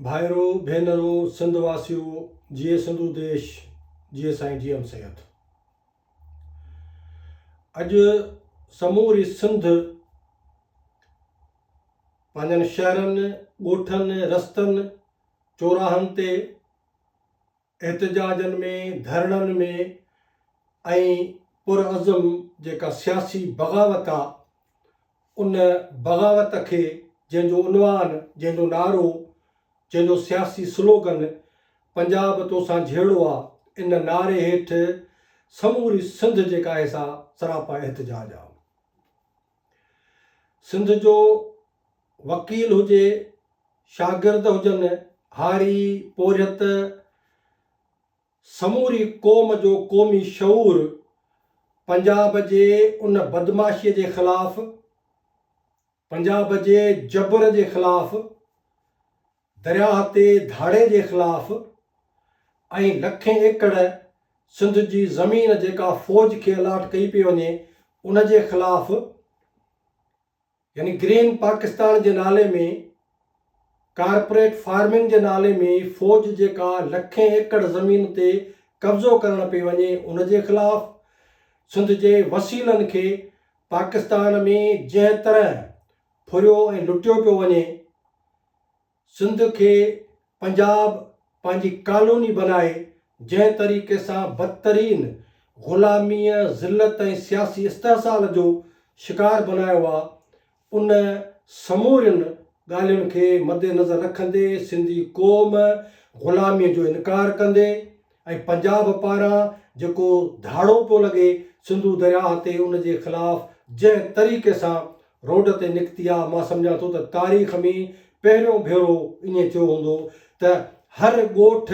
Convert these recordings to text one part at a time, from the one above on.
ڀائرو ڀينرو سنڌ واسيو جيئي سنڌو ديش جيئي سائين جي ايم سيد اڄ سموري سنڌ پنهنجن شهرن ڳوٺن رستن چوراهن تي احتجاجن ۾، ڌرڻن ۾، ۽ پرعزم جيڪا سياسي بغاوت آ، ان بغاوت کي جنهن جو عنوان، جنهن جو نعرو، جنهن جو سياسي سلوگن پنجاب توسان جهيڙو آ، ان نعري هيٺ سموري سنڌ جيڪا آهي سا سراپا احتجاج آ. سنڌ جو وڪيل هجي، شاگرد هجن، هاري، پورهيت، سموري قوم جو قومي شعور پنجاب جي ان بدمعاشيء جي خلاف، پنجاب جي جبر جي خلاف درياهه تي ڌاڙي جي خلاف ۽ لکين ايڪڙ سنڌ جي زمين جيڪا فوج کي الاٽ ڪئي پئي وڃي ان جي خلاف يعني گرين پاڪستان جي نالي ۾ ڪارپوريٽ فارمنگ جي نالي ۾ فوج جيڪا لکين ايڪڙ زمين تي قبضو ڪرڻ پئي وڃي ان جي خلاف سنڌ جي وسيلن کي پاڪستان ۾ جنهن طرح ڦريو ۽ لٽيو پيو وڃي سنڌ کي پنجاب پنهنجي ڪالوني بنائي جنهن طريقي سان بدترين غلاميء، ذلت ۽ سياسي استحصال جو شڪار بنايو آ، ان سمورين ڳالهين کي مدنظر رکندي سنڌي قوم غلاميء جو انڪار ڪندي ۽ پنجاب پاران جيڪو ڌاڙو پيو لڳي سنڌو درياهه تي ان جي خلاف جنهن طريقي سان روڊ تي نڪتي آ مان سمجهان ٿو ته تاريخ ۾ پهريون ڀيرو ائين ٿيو هوندو ته هر ڳوٺ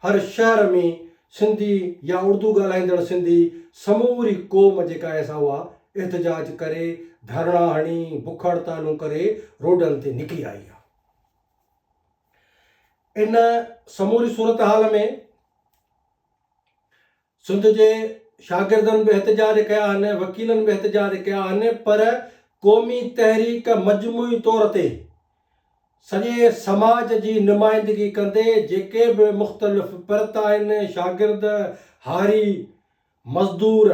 هر شهر ۾ سنڌي يا اردو ڳالهائيندڙ سنڌي سموري قوم جيڪا آهي سا اها احتجاج ڪري ڌرڻا هڻي بک هڙتالون ڪري روڊن تي نڪري آئي آ. ان سموري صورتحال ۾ سنڌ جي شاگردن به احتجاج ڪيا آهن، وڪيلن به احتجاج ڪيا آهن پر قومي تحريڪ مجموعي طور تي سڄي سماج جي نمائندگي ڪندي جيڪي به مختلف پرت آهن، شاگرد، هاري، مزدور،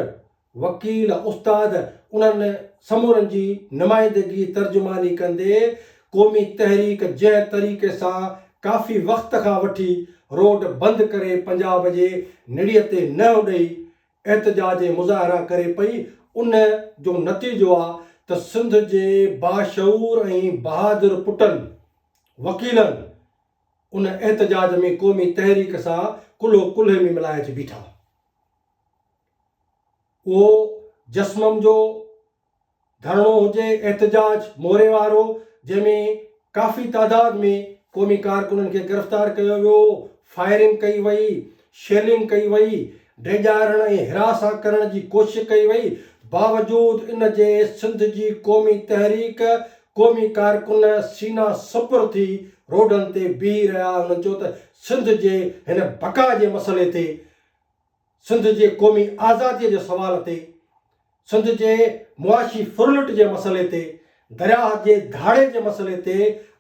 وڪيل، استاد انهن سمورن جي نمائندگي ترجماني ڪندي قومي تحريڪ جنهن طريقي سان ڪافي وقت کان وٺي روڊ بند ڪري پنجاب جي نڙيء تي نهن ڏئي احتجاج ۽ مظاهرا ڪري پئي ان جو نتيجو آ ته سنڌ جي باشعور ۽ بهادر پٽن، وڪيلن، ان احتجاج ۾ قومي تحريڪ سان ڪلهو ڪلهي ۾ ملائي اچي بيٺا. اهو جسمم جو ڌرڻو هجي، احتجاج موري وارو، جنهن ۾ ڪافي تعداد ۾ قومي ڪارڪنن کي گرفتار ڪيو ويو، فائرنگ ڪئي وئي، شيلنگ ڪئي وئي، ڊيڄارڻ ۽ هراسان ڪرڻ جي ڪوشش ڪئي وئي، باوجود ان جي سنڌ جي قومي تحريڪ قومي ڪارڪن سينا سپر ٿي روڊن تي بيهي رهيا هنن چيو ته سنڌ جي هن بقا جي مسئلي تي سنڌ جي قومي آزادي جي سوال تي سنڌ جي معاشي ڦرلٽ جي مسئلي تي، درياهه جي ڌاڙي جي مسئلي تي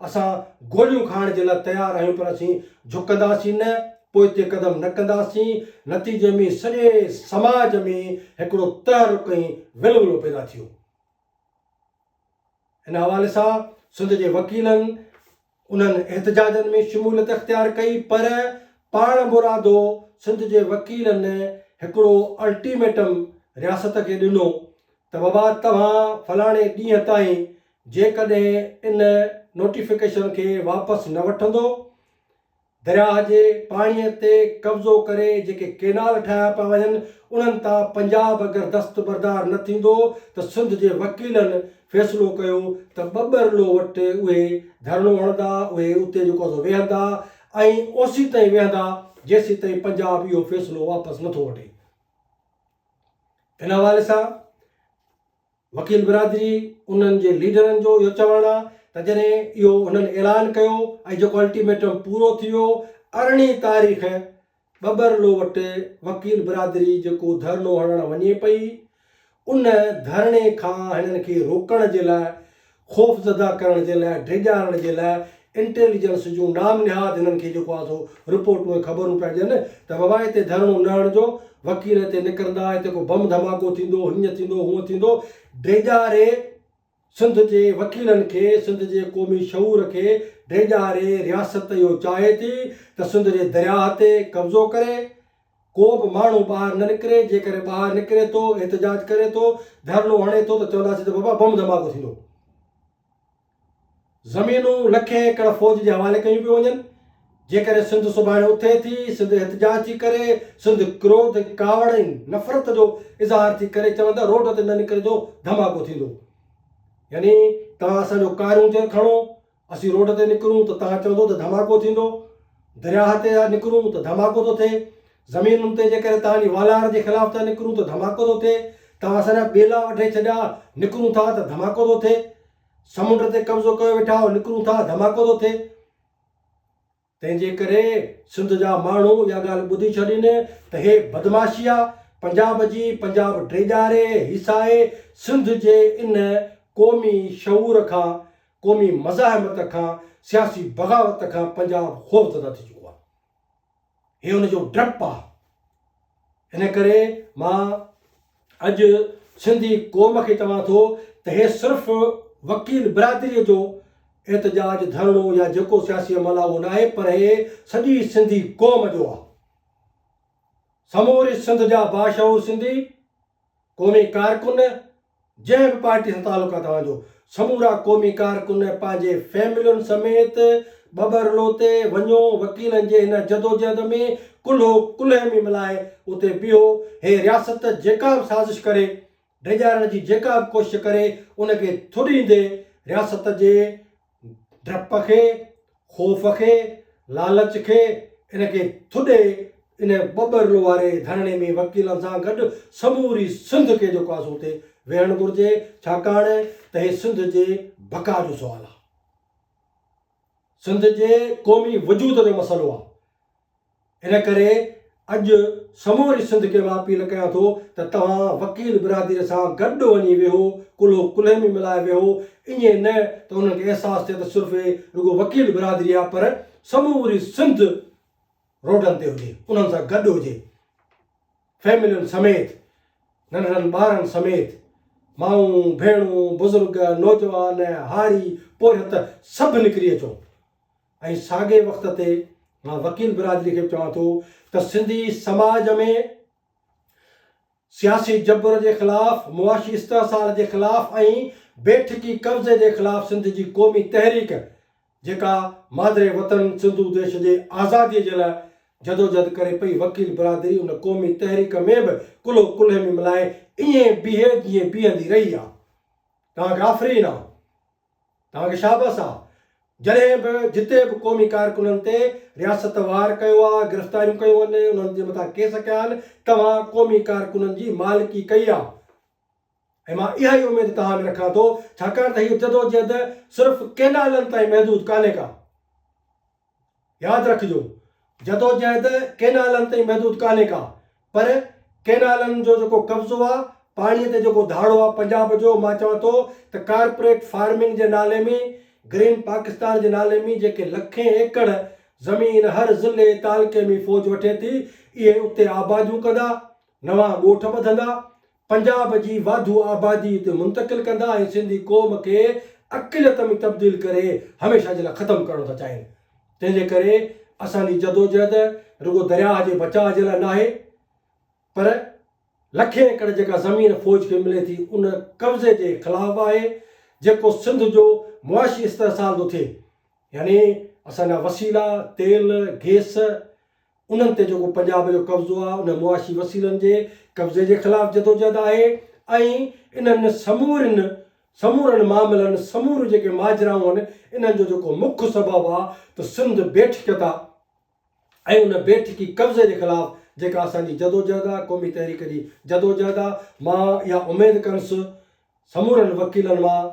اسان گوليون کائڻ جي لاء تيار آهيون پر اسين جهڪنداسين نه، پوئتي قدم نه ڪنداسين، نتيجي ۾ سڄي سماج ۾ هڪڙو تحرڪ ۽ ولولو پيدا ٿيو. ان حوالي سان سنڌ جي وڪيلن انهن احتجاجن ۾ شموليت اختيار ڪئي پر پاڻ مرادو سنڌ جي وڪيلن هڪڙو الٽيميٽم رياست کي ڏنو ته بابا توهان فلاڻي ڏينهن تائين جيڪڏهن ان نوٽيفڪيشن کي واپس نه وٺندو درياهه جي پاڻيء تي قبضو ڪري جيڪي ڪينال ٺاهيا پيا وڃن، انهن تان پنجاب اگر دستبردار نه ٿيندو ته سنڌ جي وڪيلن فيصلو ڪيو ته ٻٻرلو وٽ اهي ڌرڻو هڻندا، اهي اتي جيڪو سو ويهندا ۽ اوسيتائين ويهندا، جيسيتائين پنجاب اهو فيصلو واپس نٿو وٺي. ان حوالي سان وڪيل برادري انهن جي ليڊرن جو اهو چوڻ آهي ته جڏهن اهو انهن اعلان ڪيو ۽ جيڪو الٽيميٽم پورو ٿي ويو ارڙهين تاريخ ٻٻرلو وٽ وڪيل برادري جيڪو ڌرڻو هڻڻ وڃي پئي ان ڌرڻي کان هنن کي روڪڻ جي لاء خوفزده ڪرڻ جي لاء، ڊيڄارڻ جي لاء انٽيليجنس جون نام نهاد هنن کي جيڪو آ سو رپورٽون ۽ خبرون پيا ڏين ته بابا هتي ڌرڻو نه هڻجو، وڪيل هتي نڪرندا، هتي ڪو بم ڌماڪو ٿيندو، هينئن ٿيندو، هونئن ٿيندو. ڊيڄاري سنڌ جي وڪيلن کي، سنڌ جي قومي شعور کي ڊيڄاري رياست اهو چاهي ٿي ته سنڌ جي درياهه تي قبضو ڪري، ڪو به ماڻهو ٻاهر نه نڪري، جيڪڏهن ٻاهر نڪري ٿو، احتجاج ڪري ٿو، ڌرڻو هڻي ٿو ته چونداسين ته بابا بم ڌماڪو ٿيندو. زمينون لکين ايڪڙ فوج جي حوالي ڪيون پيون وڃن، جيڪڏهن سنڌ سڀاڻي اٿي ٿي، سنڌ احتجاج ٿي ڪري، سنڌ ڪروڌ، ڪاوڙ ۽ نفرت جو اظهار ٿي ڪري چون ته روڊ تي نه نڪرجو ڌماڪو ٿيندو. يعني توهان اسان جو ڪاريون چير کڻو، اسين روڊ تي نڪرون ته توهان چوندو ته ڌماڪو ٿيندو، درياهه تي ٿا نڪرون ته ڌماڪو ٿو ٿئي، زمينن تي جيڪڏهن توهان جي والار جي خلاف ٿا نڪرون ته ڌماڪو ٿو ٿئي، توهان اسان جا ٻيلا وڍي ڇڏيا، نڪرون ٿا ته ڌماڪو ٿو ٿئي، سمنڊ تي قبضو ڪيو ويٺا آهيو، نڪرون ٿا، ڌماڪو ٿو ٿئي. تنهن جي ڪري سنڌ جا ماڻهو اها ڳالهه ٻڌي ڇڏين ته هي بدمعاشي آ پنجاب جي پنجاب ڊيڄاري هيسائي سنڌ جي ان قومي شعور کان قومي مزاحمت کان سياسي بغاوت کان پنجاب خوفزده ٿي چڪو آ هي ان جو ڊپ آ. ان ڪري مان اڄ سنڌي قوم کي چوان ٿو ته هي صرف وڪيل برادريء جو احتجاج ڌرڻو يا جيڪو سياسي عمل آهي اهو نه آهي پر هي سڄي سنڌي قوم جو آهي سموري سنڌ جا باشعور سنڌي قومي ڪارڪن، جنهن به پارٽي سان تعلق آهي توهان جو، سمورا قومي ڪارڪن پنهنجي فيملين سميت ٻٻرلو تي وڃو، وڪيلن جي هن جدوجهد ۾ ڪلهو ڪلهي ۾ ملائي اتي بيهو، هي رياست جيڪا به سازش ڪري، ڊيڄارڻ جي جيڪا به ڪوشش ڪري، ان کي ٿڏيندي رياست جي ڊپ کي، خوف کي، لالچ کي، ان کي ٿڏي ان ٻٻرل واري ڌرڻي ۾ وڪيلن سان گڏ سموري سنڌ کي جيڪو آسو اتي ويهڻ گهرجي ڇاڪاڻ ته هي سنڌ جي بقا جو سوال آهي سنڌ جي قومي وجود جو مسئلو آهي ان ڪري اڄ سموري سنڌ کي مان اپيل ڪيان ٿو ته توهان وڪيل برادري سان گڏ وڃي ويهو، ڪلهو ڪلهي ۾ ملائي ويهو، ائين نه ته انهن کي احساس ٿئي ته صرف هي رڳو وڪيل برادري آهي پر سموري سنڌ روڊن تي هجي. انهن سان گڏ هجي. فيملين سميت، ننڍڙن ٻارن سميت، مائون، ڀيڻون، بزرگ، نوجوان، هاري، پورهيت سڀ نڪري اچون. ۽ ساڳئي وقت تي مان وڪيل برادري کي به چوان ٿو ته سنڌي سماج ۾ سياسي جبر جي خلاف، معاشي استحصال جي خلاف ۽ بيٺڪي قبضي جي خلاف سنڌ جي قومي تحريڪ جيڪا مادري وطن سنڌو ديش جي آزادي جي لاء جدوجھد ڪري پئي وڪيل برادري ان قومي تحريڪ ۾ به ڪلهو ڪلهي ۾ ملائي ائين بيهي جيئن بيهندي رهي آ. توهان کي آفرين آ. توهان کي شابس آ جڏهن به جتي به قومي ڪارڪنن تي رياست وار ڪيو آ گرفتاريون ڪيون ان انهن جي مٿان ڪيس ڪيا آهن توهان قومي ڪارڪنن جي مالڪي ڪئي آ ۽ مان اها ئي اميد توهان ۾ رکان ٿو ڇاڪاڻ ته هيء جدوجهد صرف ڪينالن تائين محدود ڪانهي ڪا. ياد رکجو جدوجهد ڪينالن تائين محدود ڪانهي ڪا پر ڪينالن جو جيڪو قبضو آ پاڻي تي جيڪو ڌاڙو آ پنجاب جو مان چوان ٿو ته ڪارپوريٽ فارمنگ جي نالي ۾ گرين پاڪستان جي نالي ۾ جيڪي لکين ايڪڙ زمين هر ضلعي تعلقي ۾ فوج وٺي ٿي اهي اتي آباديون ڪندا نوان ڳوٺ ٻڌندا پنجاب جي واڌو آبادي اتي منتقل ڪندا ۽ سنڌي قوم کي اقليت ۾ تبديل ڪري هميشه جي لاء ختم ڪرڻ ٿا چاهين تنهن جي ڪري اسان جي جدوجهد رڳو درياهه جي بچاء جي لاء ناهي پر لکين ايڪڙ جيڪا زمين فوج کي ملي ٿي ان قبضي جي خلاف آهي جيڪو سنڌ جو معاشي استحصال ٿو ٿئي يعني اسان جا وسيلا تيل گيس انهن تي جيڪو پنجاب جو قبضو آهي ان معاشي وسيلن جي قبضي جي خلاف جدوجهد آهي ۽ انهن سمورين سمورن معاملن سموريون جيڪي ماجرائون آهن انهن جو جيڪو مک سبب آهي ته سنڌ بيٺڪيت آهي ۽ ان بيٺڪي قبضي جي خلاف جيڪا اسان جي جدوجهد آهي قومي تحريڪ جي جدوجهد آهي مان اها اميد ڪنس سمورن وڪيلن مان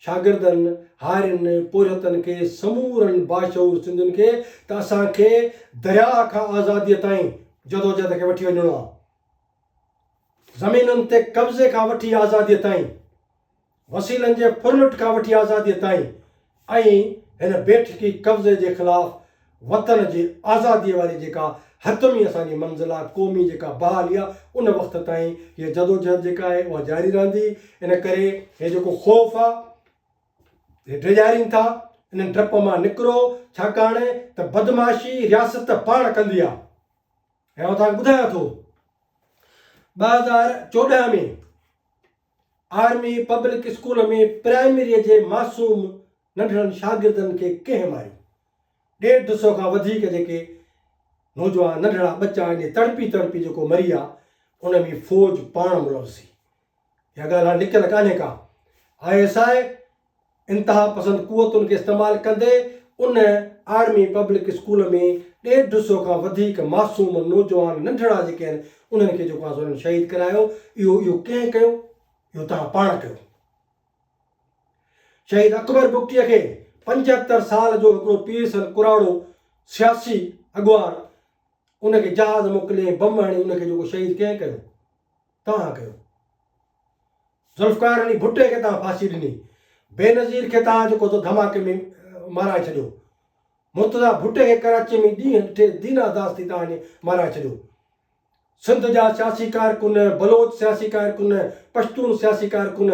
شاگردن، هارين، پورهيتن کي سمورن باشعور سنڌين کي ته اسان کي درياء کان آزاديء تائين جدوجهد کي وٺي وڃڻو آهي. زمينن تي قبضي کان وٺي آزاديء تائين، وسيلن جي ڦرلٽ کان وٺي آزاديء تائين، ۽ هن بيٺڪي قبضي جي خلاف وطن جي آزاديء واري جيڪا حتمي اسان جي منزل آ، قومي جيڪا بحالي آ، ان وقت تائين هيء جدوجهد جيڪا آهي اها جاري رهندي. ان ڪري هي جيڪو خوف آ، هي ڊيڄارين ٿا، انهن ڊپ مان نڪرو، ڇاڪاڻ ته بدمعاشي رياست پاڻ ڪندي آ. ۽ آئون توهان کي ٻڌايان ٿو، ٻه هزار چوڏهن ۾، آرمي پبلڪ اسڪول ۾ پرائمريء جي معصوم ننڍڙن شاگردن کي ڪنهن ماريو؟ ڏيڍ سو کان وڌيڪ جيڪي نوجوان ننڍڙا ٻچا آهن، تڙپي تڙپي جيڪو مريا، ان ۾ فوج پاڻ ملوث هئي. اها ڳالهه هاڻ لڪل ڪانهي ڪا. آء ايس آء انتها پسند قوتن کي استعمال ڪندي ان آرمي پبلڪ اسڪول ۾ ڏيڍ سو کان وڌيڪ معصوم نوجوان ننڍڙا جيڪي آهن انهن کي جيڪو آسورن شهيد ڪرايو اهو اهو ڪنهن ڪيو اهو توهان پاڻ ڪيو شهيد اڪبر بگٽي کي پنجهتر سال جو هڪڙو پيرسن ڪراڙو سياسي اڳواڻ ان کي جهاز موڪلي بم هڻي ان کي جيڪو شهيد ڪنهن ڪيو توهان ڪيو. ذوالفقار علي ڀٽي کي توهان ڦاسي ڏني. بينظير کي توهان جيڪو سو ڌماڪي ۾ مارائي ڇڏيو. مرتضيٰ ڀٽي کي ڪراچي ۾ ڏينهن ڏٺي دينا داس ٿي توهان مارائي ڇڏيو. سنڌ جا سياسي ڪارڪن، بلوچ سياسي ڪارڪن، پشتون سياسي ڪارڪن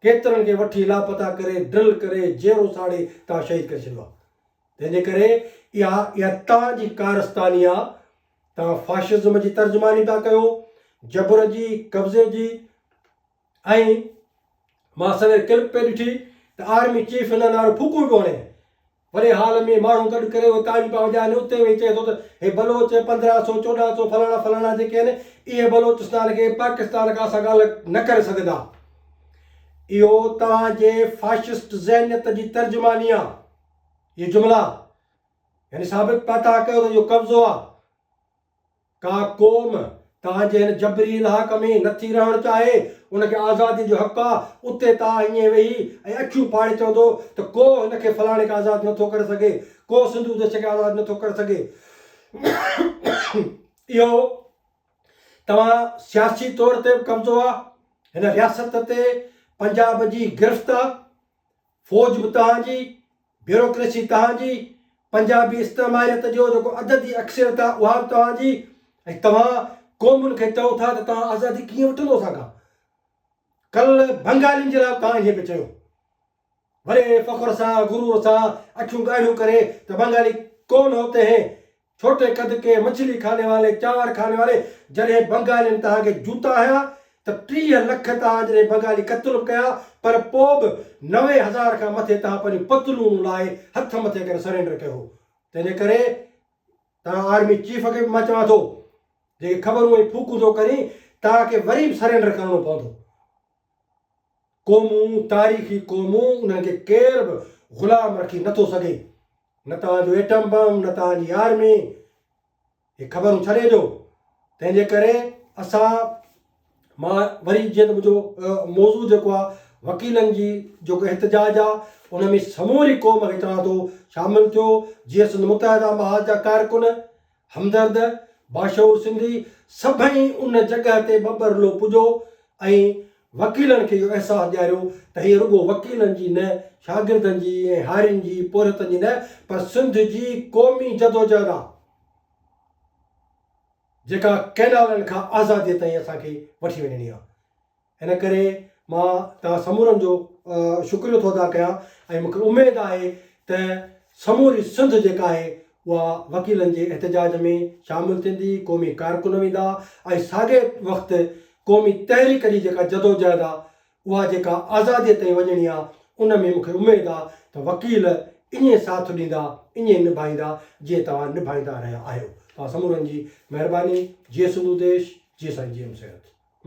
ڪيترن کي وٺي لاپتا ڪري، ڊرل ڪري، جيئرو ساڙي توهان شهيد ڪري ڇڏيو آهي. تنهن جي ڪري اها اها توهان جي ڪارستاني آهي. توهان فاشزم جي ترجماني پيا ڪيو، جبر جي، قبضي جي ۽ مان سوير ڪلپ پئي ڏٺي ته آرمي چيف ان نعرو ڦوڪون ئي پيو هڻي. وڏي هال ۾ ماڻهو گڏ ڪري اهي تاڙيون پيا وڄائن ۽ اتي ويهي چئي ٿو ته هي بلوچ پندرهن سو، چوڏهن سو فلاڻا فلاڻا جيڪي آهن اهي بلوچستان کي پاڪستان کان اسان کان الڳ نه ڪري سگهندا. اهو توهان جي فاشسٽ ذهنيت جي ترجماني آهي. اهي جملا. يعني ثابت پيا ٿا ڪيو ته اهو قبضو آهي. ڪا قوم توهان جي هن جبري الحاق ۾ نٿي رهڻ چاهي، ان کي آزاديء جو حق آهي، اتي ته آء ائين ويهي ۽ اکيون ڦاڙي چوندو ته ڪو هن کي فلاڻي کان آزاد نٿو ڪري سگهي، ڪو سنڌو ديش کي آزاد نٿو ڪري سگهي. اهو توهان سياسي طور تي به قبضو آهي، هن رياست تي پنجاب جي گرفت آهي، فوج به توهان جي، بيوروڪريسي توهان جي، پنجابي استعماريت جو جيڪو عددي اڪثريت آهي اها به توهان جي ۽ توهان قومن کي چئو ٿا ته توهان آزادي ڪيئن وٺندو اسان کان؟ ڪلهه بنگالين جي لاء به توهان ائين پئي چيو. وڏي فخر سان غرور سان اکيون ڳاڙهيون ڪري ته بنگالي ڪون هوتي هين، ڇوٽي قد ڪي مڇلي خاني والي، چانور خاني واري، جڏهن بنگالين توهان کي جوتا هنيا ته ٽيهه لک توهان جڏهن بنگالي قتل به ڪيا پر پوء به نوي هزار کان مٿي توهان پنهنجون پتلونون لاهي هٿ مٿي ڪري سرينڊر ڪيو هو تنهن جي ڪري توهان آرمي چيف کي به مان چوان ٿو جيڪي خبرون ۽ ڦوڪون ٿو ڪرين توهان کي وري به سرينڊر ڪرڻو پوندو قومون، تاريخي قومون، انهن کي ڪير به غلام رکي نه ٿو سگهي. نه توهان جو ايٽم بم، نه توهان جي آرمي. هي خبرون ڇڏي ڏيو. تنهن جي ڪري اسان مان وري جيئن ته منهنجو موضوع جيڪو آهي وڪيلن جي جيڪو احتجاج آهي ان ۾ سموري قوم کي چوان ٿو شامل ٿيو جيئن سنڌ متحده محاذ جا ڪارڪن همدرد، باشعور سنڌي سڀئي ان جڳهه تي ٻٻرلو پڄو ۽ وڪيلن کي اهو احساس ڏياريو ته هيء رڳو وڪيلن جي نه، شاگردن جي ۽ هارين جي، پورهيتن جي نه، پر سنڌ جي قومي جدوجهد آ، جيڪا ڪئنالن کان آزاديء تائين اسان کي وٺي وڃڻي آ. ان ڪري مان توهان سمورن جو شڪريو ٿو ادا ڪيان ۽ مونکي اميد آهي ته سموري سنڌ جيڪا آهي اها وڪيلن جي احتجاج ۾ شامل ٿيندي، قومي ڪارڪن ويندا ۽ ساڳئي وقت قومي تحريڪ جي جيڪا جدوجهد آهي اها جيڪا آزادي تائين وڃڻي آهي ان ۾ مونکي اميد آهي ته وڪيل ائين ساٿ ڏيندا ائين نڀائيندا جيئن توهان نڀائيندا رهيا آهيو. توهان سمورن جي مهرباني. جي سنڌو ديش. جي سائين جي ايم سيد.